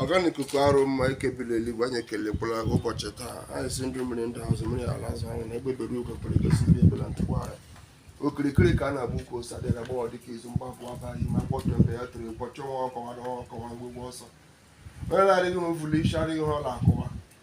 ọgana ikuku arụ mma ke bi la eluigwe anyị ekelekwala ụbọchị taa anyị sị ndị mmiri ndị azụ mmiri ala azụ anyị na ebe bere ugwu pụrụ egosi ihe ebela ntụkwa anyị okirikiri ka a na-agba ukwu ose adịghị agbawa dịka izu mgbapụ abaghị ma kpọtụ mgbe ya tụrụ ọchụ nwa ọkụkọ nwe ada nwa ọkụkọ nwe ngwụgwọ ọsọ onye na-adịghị ihe o vu l'isi adịghị ihe ọ na-akụwa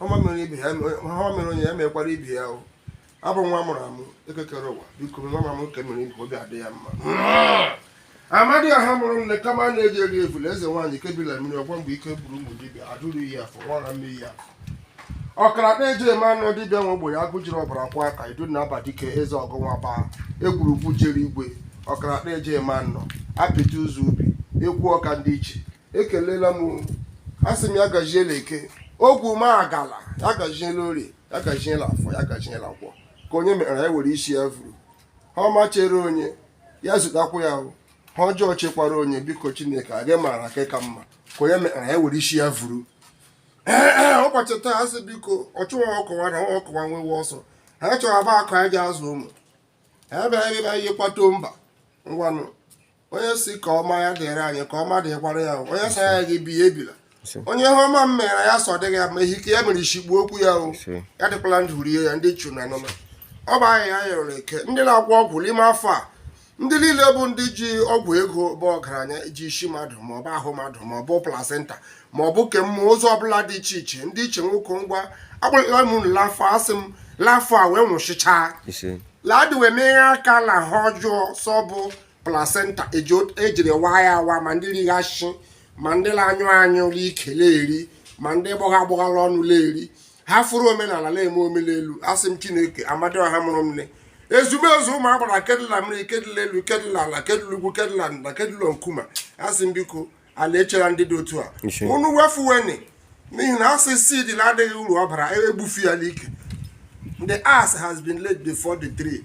ọma mere ibe ya ọma mere onye ya mekwara ibe ya o abụ nwa mụrụ amụ eke kere ụwa biko nwa m amụ nke mere ibe obi adị ya mma amadioha mụrụ m na kamanu eji eri evule eze nwaanyị ke bi la mmiri ọgba mgbe ike gwụrụ mgbu dibịa adụrụ iyi afọ nwara mmiri ya ọkaraka eji eme ọnụ dibịa nwe ogbenye agụ jiri ọbara kwọọ aka idu na ọba dike eze ọgụ nwa baa egwurugwu jere igwe ọkaraka eji eme ọnụ apịtị ụzọ ubi ekwu ọka ndị ichie ekelela m asị m ya gajiela eke ogwu m agala ya gajiela orie ya gajiela afọ ya gajiela nkwọ ka onye mere ya were isi ya vuru ihe ọma chere onye ya zutakwa ya o ihe ọjọọ chekwara onye biko chineke ga-amara nke ka mma ka onye mere ya were isi ya vuru ee ụbọchị taa asị biko ọchụ nwa ọkụkọ nwe ada nwa ọkụkọ nwe nwenwe ọsọ ha chọrọ bụ akụ anyị ji azụ ụmụ ha bịara ebe anyị kpato mba ngwanụ onye sị ka ọma ya dịrị anyị ka ọma dịkwara ya onye sị anyị agaghị ebi ebila onye ihe ọma m mere ya sị ọ dịghị ya mma ehike ya mere isi gbuo okwu ya o ya dịkwala ndụ rie ya ndị chu na nụma ọ bụ ahịa ya yọrọ eke ndị na-agwọ ọgwụ n'ime afọ a ndị niile bụ ndị ji ọgwụ ego bụ ọgaranya ji isi mmadụ ma ọ bụ ahụ mmadụ ma ọ bụ placenta ma ọ bụ kemgbe ụzọ ọbụla dị iche iche ndị ichie nwoke ngwa akpọọla m unu l'afọ a asị m l'afọ a wee nwụchichaa laadị wee meghe aka na ihe ọjọọ sọ bụ placenta ejiri e waa ya awa ma ndị righachi ma ndị na-anyụ anyụ ike eri ma ndị gbọgha agbọ l'ọnụ eri hafụrụ omenala na-eme omenelu asị m chineke amadioha mụrụ nne ezumezu ụmụ agbara ke dụ la mmiri ke dụ la elu ke dụ la ala ke dụ la ugwu ke dụ la nda ke dụ la nkuma asị m biko ala echela ndị dị otu a unu wefuweni n'ihi na asị seed na adịghị uru ọ bara e gbufuo ya n'ike the axe has been laid before the tree